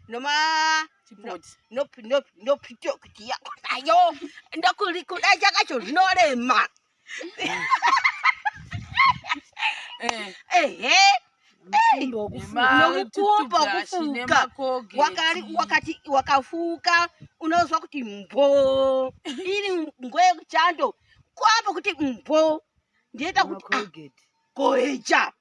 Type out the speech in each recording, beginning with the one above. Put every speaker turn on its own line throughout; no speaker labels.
noma nopitokiti yako nayo ndokuda chakacho zvinorema ehe nokukumba kufuka wakati wakafuka unozwa kuti mbo iri ngo yekuchando kwapa kuti mbo ndiita kuti ah, koecha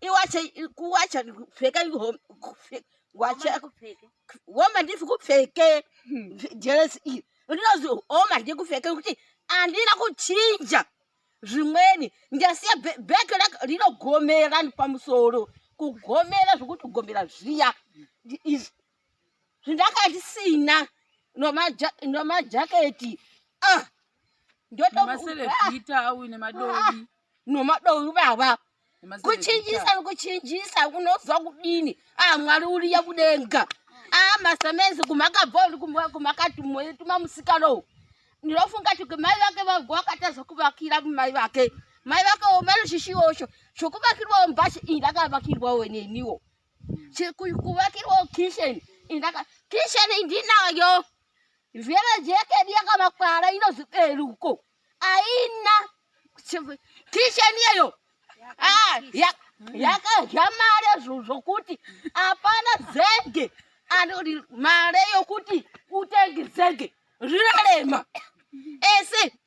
iwache kuwacha kupfeka wache woma ndifi kupfeke jeresi hmm. iyi ndinozi woma ndikupfeke kuti andina kuchinja zvimweni ndasiya bheki rinogomera pamusoro kugomera zvokutogomera zviya zvindakandisina nomajaketi ah, ndotomasereita au nemadovi nomadovi baba kuchinjisa nikuchinjisa unozwa kudini ah, mwari uriya kudenga ah, masamezi kumakabva uri kumakatuma musikano u ndinofunga kuti mai vake vabva vakatadza kuvakira mai vake mai vake omanoshishiosho zvokuvakirwawo mbashi iyi ndakavakirwawo neniwo kuvakirwa kitchen indaka kitchen ndinayo zvema jekedi yakamakwara inoziberuko aina kitchen yeyo ah, yakadya mare zvokuti hapana zenge anoti mare yokuti utenge zenge zvinorema ese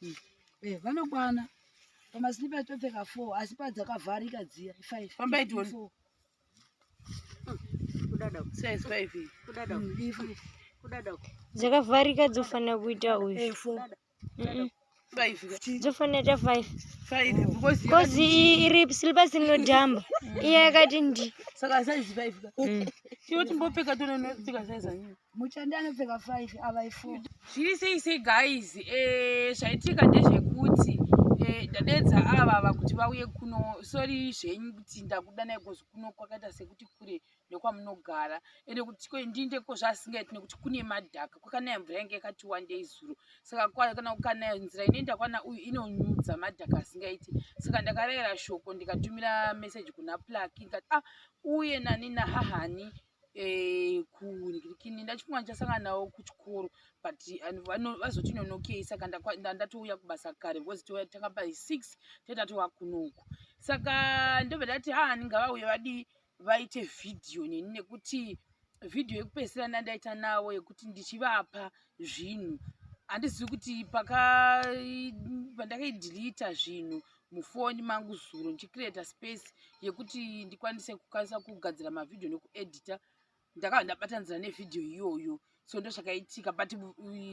Hmm. Eh,
vanokwana pamaslipa topfeka four asi padzakavharika dziya five fambai
tione hmm.
dzakavharika dzofanira kuita uyu eh, dzofanira ta five bcause iri slipa sinodhamba iya yakati ndi saka saizi five
ka tiwo timbopfeka tononopfeka saizanyini muchandi anopfeka
five avai four zviri sei sei
guys eh, zvaitika ndezvekuti eh, ndadedza ava vava kuti vauye kuno sori zvenyu kuti ndakudanai kozi kuno kwakaita sekuti kure nekwamunogara ende kuti ndiinde kozvaasingaiti nekuti kune madhaka kwakanaya mvura yange yakati wandei zuro saka kana kukanaya nzira inoenda kwana uyu inonyudza madhaka asingaiti saka ndakarayira shoko ndikatumira meseji kuna plaki ndikati ah uye nani nahahani eh, kunini ndachifunga ndichasangana navo kuchikoro but vazotinonokei saka ndatouya kubasa kare because touya tanga by six totatova kunoku saka ndobva ndati ha ah, ndingavauye vadii vaite vhidhiyo neni nekuti vhidhiyo yekupedzisira ndandaita navo yekuti ndichivapa zvinhu handizivi kuti paka pandakaidhilita zvinhu mufoni mangu zuro ndichicreata space yekuti ndikwanise kukwanisa kugadzira mavhidhiyo nekuedita ndakava ndabatanizira nevhidhiyo iyoyo so ndo zvakaitika but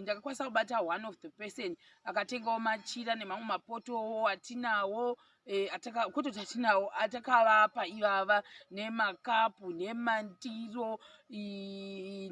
ndakakwanisa kubata one of the person akatengawo machira nemamwe mapotowo atinawo eh, kototi atinawo atakavapa ivava nemakapu nemandiro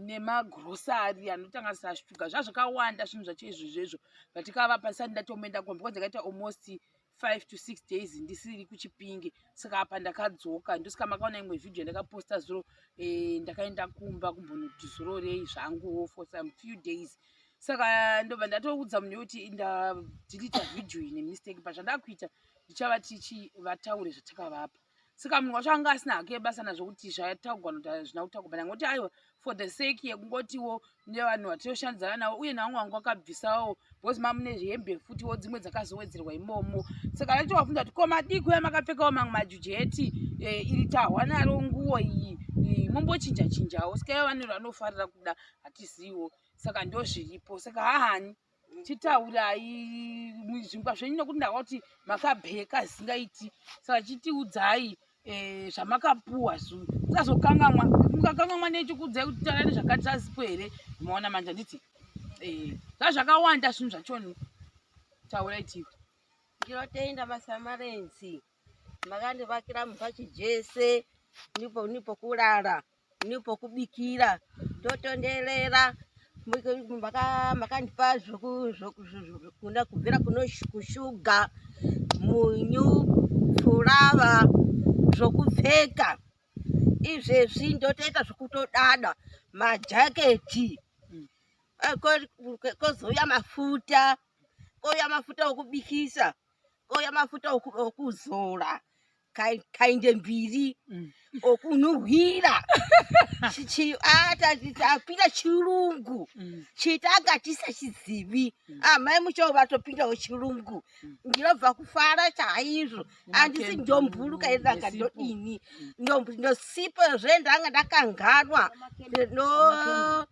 nemagrosari anotanganisa shuga zvazvakawanda zvinhu zvacho izvozvo izvo but kava pasati ndatomboenda kumba because ndakaita almost five to six days ndisiri kuchipinge saka apa ndakadzoka ndosaka makaona imwe vhidhiyo ndakaposta zuro eh, ndakaenda kumba kumbonoti zurorei zvangu for some few days saka ndobva ndatoudza munhu yekuti ndadhilita vhidhiyo iyi nemistake but zvandakuita ndichava tichivataure zvatakavapa saka munhu wacho anga asina hake basa nazvo kuti zvataugwa noti hazvina kutaugwa bana ngoti aiwa for the sake yekungotiwo nevanhu vatinoshandidzana navo uye navamwe vangu vakabvisawo because mamune zvihembe futiwo dzimwe dzakazowedzerwa imomo saka vaitowabvunza kuti komadii kuya makapfekawo mamwe majuji eti e, iri tahwa naro nguwo iyi e, mombochinja chinjawo saka ivo vanero vanofarira kuda hatiziwo saka ndozviripo saka hahani chitaurai zvingwa zvenyu nekuti ndava kuti makabheka zvisingaiti saka chitiudzai eh, zvamakapuwa zuu sazokangamwa mukakangamwa nechikuudzai kuti taurani zvakati zvazipo here maona manje handiti eh, zvazvakawanda zvinhu zvachoni taurai tivi ndinotenda
masamarenzi makandivakira mumba chijese nipo nipo kurara nipo kubikira totonderera makandipa zvokuna kubvira kunoshuga munyu furava zvokupfeka izvezvi ndotoita zvokutodada majaketi mm. eh, kozouya mafuta kouya mafuta okubikisa oya mafuta okuzora kainde mbiri mm. okunhuhwira atapinda chirungu mm. chitanga tisachizivi mm. amai ah, muchoo vatopindawo chirungu ndinobva kufara chaizvo andisi ndomburuka iri ndanga ndodini ndosipo zve ndanga ndakanganwa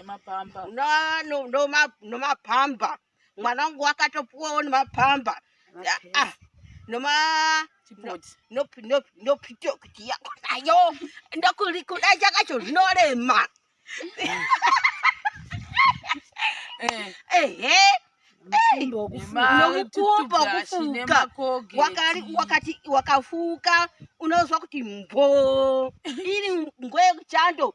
nemapamba Na- no- no ma- nomapamba mwana wangu wakatopuwawo nemapamba Ah, ah, noma chipoti no- no- nopito kuti yako nayo ndokuri kuda chakacho zvinorema Eh, ehe mukumbo wekufuka nema- nomukumbo tutu brush, kufuka. nemakoge, wakari tii. wakati wakafuka unozwa kuti mbo iri ngwe yekuchando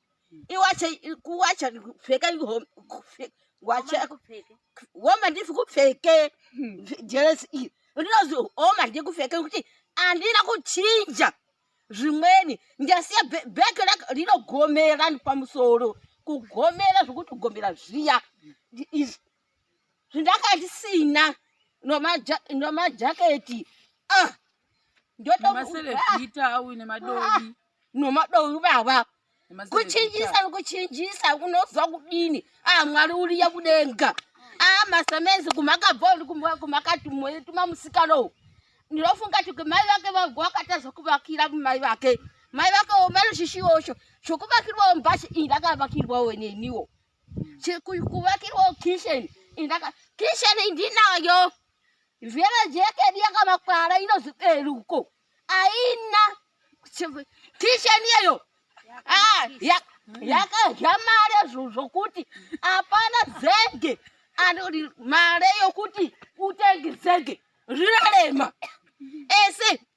iwache kuwacha pfeka wache woma ndifi kupfeke jeresi iyi ndinozi woma ndikupfeke kuti andina kuchinja zvimweni ndasiya bek rinogomera pamusoro kugomera zvokuti kugomera zviya zvindanga ndisina nomajaketi ah, ndotomasereita au nemadovi ah, nomadovi baba kuchinjisa nikuchinjisa unozwa kudini ah, mwari uriya kudenga ah, masemenzi kumakabvori kumakatuma musikano u ndinofunga ti kumai vake vago vakatadza kuvakira kumai vake mai vake omanoshishiosho zvokuvakirwawo mbasha iyi ndakavakirwawo neniwo kuvakirwawo kitchen indaka kitchen ndinayo zveve jekedi yakamakwara inoziperi uko aina kitchen iyeyo ah, yakadya mare zvokuti hapana zege anoti mare yokuti utenge zege zvinorema ese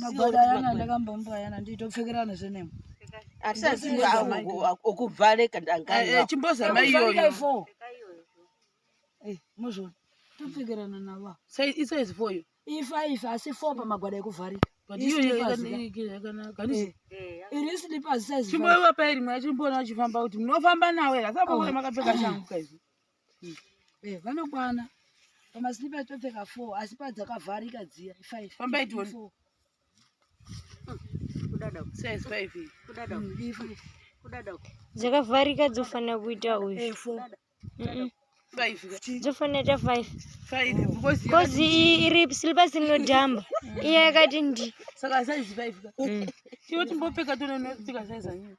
Magwadayana ndakambombwayana nditopfekerana zvenemo. Atisazivi
okuvhareka ndangani. Eh, eh, chimbozama iyoyo.
Eh,
mozvona. Topfekerana navo. Sai isa is for
you. Ifa ifa asi for
pamagwada ekuvharika. But iyo
yakanaka.
Iri slippers size. Chimboiwa pairi mwa chimboona
uchifamba kuti munofamba nawo here. Asabokore oh. makapfeka shangu kaizvi. Hmm. Eh, vanokwana
pamaslipa topfeka four asi padzakavharika dziya five pambai tione
hmm.
dzakavharika dzofanira kuita uyu eh,
dzofanira ta
five
kozi iri
slipa sinodhamba iya yakati ndi saka saizi five
ka tiwo timbopfeka tononopfeka saizi anyini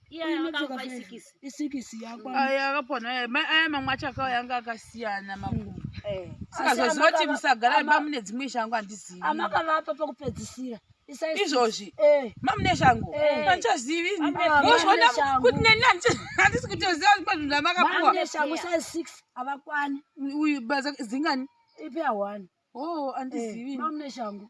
aya
mamwe acho akauya anga akasiyana makumbo eh. saka zvozinoti musagara imba mune dzimwe shangu handizivi amakavapa
pakupedzisira izvozvi
eh. mamune shangu eh. handichazivi vozvona kuti neni handisi kutoziva zvipa zvinhu zvamakapuwa
uyu baza
zingani ipi ahwani
o oh, handizivi
mamune shangu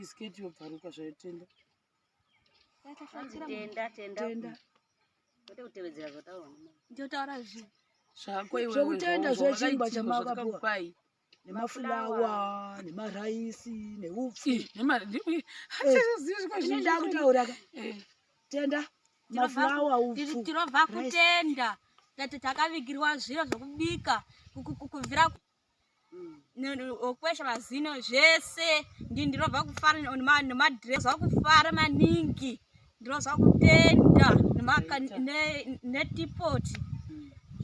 isketi yobvaruka zvaitenda tenda tenda
tenda kwete
kutevedzera zvotaura ndotaura zvi
zvako iwe
zvokutenda zvechingwa
chamakapuwa
nemafulawa
nemaraisi neupfu ndakutaura ka eh. tenda mafulawa upfu tinobva kutenda
tati takavigirwa zviro zvokubika kuvhira okwesha mazino zvese ndi ndinobva kufara nemadress vakufara maningi ndinobva kutenda netipoti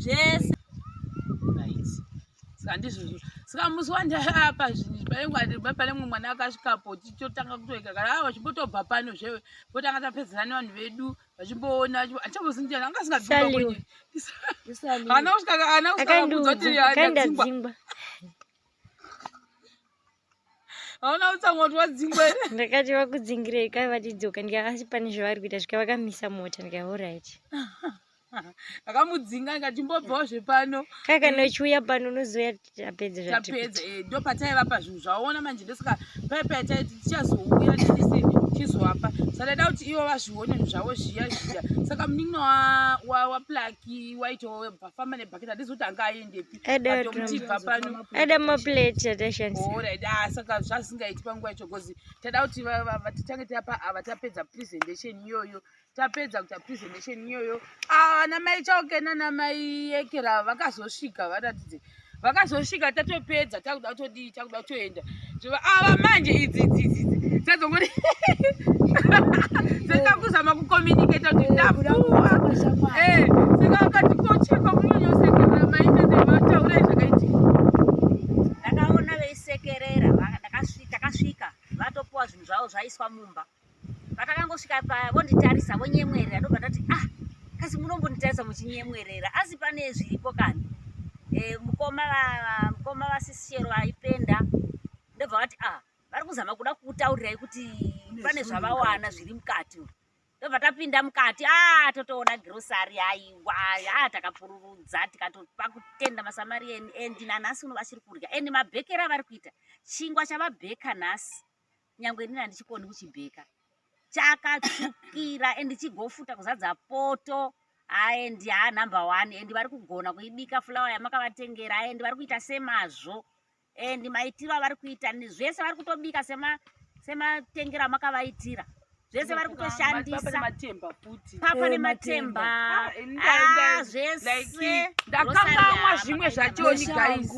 zvese
handizvozvo saka musi wandaapa zvinhu pane mumwe mwana akasvikapo tichotanga kutoika kana ava chimbotobva pano zve potanga tapedzera nevanhu vedu vachimboona achabozinjana anga asingadzingwa ana kusvika ana kusvika kuudza kuti akadzingwa hauna kutsamwa kuti wadzingwa ere ndakati vakudzingirei
kai vatidzoka ndikakasi pane zvavari kuita zvika vakamisa mota ndikati orit akamudzinga
ndikati mbobvawo zvepano kai kana uchiuya
pano unozoya tapedza tapedza eh, ndo
pataivapa zvinhu zvaona manje ndosaka pai pataiti tichazouya tese tichizovapa saka taida kuti ivo vazvione zvinhu zvavo zviya zviya saka munin'ina waplaki waitofamba nebhaketi hatizi kuti anga aendepi atomutibva panoaida maplate
atashandisaaorit ah, saka
zvazingaiti panguva yacho bcause taida kuti titange tapa ava tapedza presentation iyoyo tapedza kuita presentation iyoyo ana ah, mai chauke nana mai ekera vakazosvika varatidze vakazosvika tatopedza takuda kutodii takuda kutoenda zvova ava ah, manje idzi idzi idzi idzi dzadzongoti saka kuzama kucommunicata kuti ndabuwa eh, saka vakati kocheka munonyosekerera maite dzevataura zvakaitika
ndakaona veisekerera takasvika vatopuwa zvinhu zvavo zvaiswa mumba Patakangosvika paya vonditarisa vonyemwerera ndobva ndati ah kasi munombonditarisa muchinyemwerera asi pane zviripo kani e, mukoma mukoma vasisishero vaipenda ndobva vati ah vari kuzama kuda kukutaurirai kuti pane zvavawana zviri mukati tobva tapinda mukati a ah, totoona grosari aiwa a ah, takapururudza tikatopa kutenda masamarian and nanhasi uno vachiri kurya and mabhekero avari kuita chingwa chavabheka nhasi nyangwe inini handichikoni kuchibheka chakatsvukira and chigofuta kuzadza poto aendi haa number one and vari kugona kuibika fulawa yamakavatengera aendi vari kuita semazvo and maitiro avari kuita zvese vari kutobika sematengero amakavaitira zvese vari kutoshandisa matemba futi papa nematemba ah, ah, zvese ndakangamwa
zvimwe zvachoni guys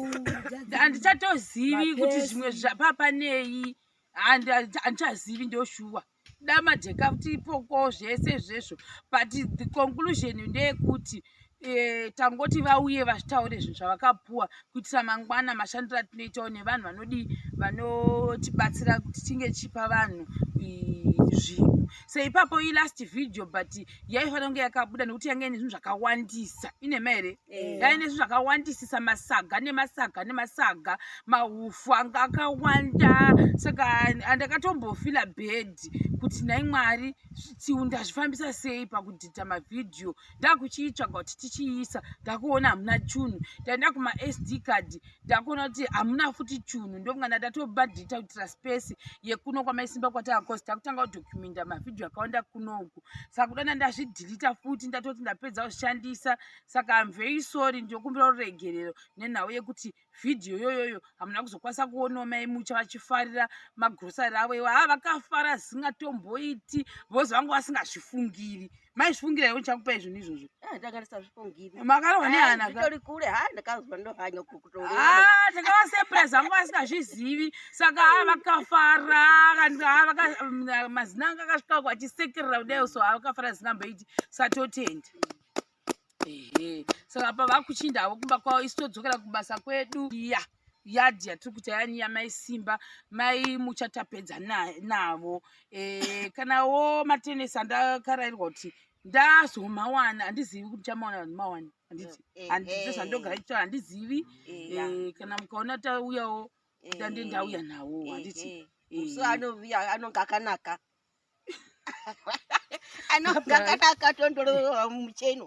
handichatozivi kuti zvimwe papa nei handichazivi ndoshuwa damadheka kuti ipoko zvese izvezvo but the conclusion ndeyekuti e, tangoti vauye vataure zvinhu zvavakapuwa kuitira mangwana mashandiro atinoitawo nevanhu vanodii vanotibatsira kuti tinge chipa vanhu zvinhu so ipapo ilast video but yaifanira kunge yakabuda nekuti yange ine zvinhu zvakawandisa inema here eh. yaive nezvinhu zvakawandisisa masaga nemasaga nemasaga mahufu anga akawanda saka andakatombofila bed kuti nhai mwari tiundazvifambisa sei pakudhidha mavhidhiyo ndakuchiitsvaga kuti tichiisa ndakuona hamuna chunhu taenda kumasd card ndakuona kuti hamuna futi chunhu ndokungana tatobadhita kuitira space yekuno kwamaisimba kwataakosi takutanga kudokumenta mavhidhiyo akawanda kunoku saka kudana ndazvidhilita futi ndatoti ndapedza kushandisa saka am very sorry ndokumbira ruregerero nenhau yekuti vhidhiyo yoyoyo hamuna kuzokwanisa kuonawo mai mucha vachifarira magrosari avo iwa haa vakafara asingatomboiti vozi vangu vasingazvifungiri maizvifungira iwe chakupa izvinhu izvozvo eh, makarohwa nehanatakawasepresa vanga vasingazvizivi saka haa vakafara mazina anga akasvika kwachisekerera kudaio so haa vakafara asingamboiti satotenda ehe so apa vakuchinda havo kumba kwavo isu todzokera kubasa kwedu ya yadhi yatiri kuita yani yamai simba mai muchatapedza navo e, kana wo matenesi andakarairwa kuti ndazomawana handizivi kuti chamawana vanhu mawani handiti eh, eh, handiti zvandogara eh. chitaura handizivi kana mukaona tauyawo tande ndauya nawo handiti so anoviya
anonge akanaka anonga kana akatondorova mucheno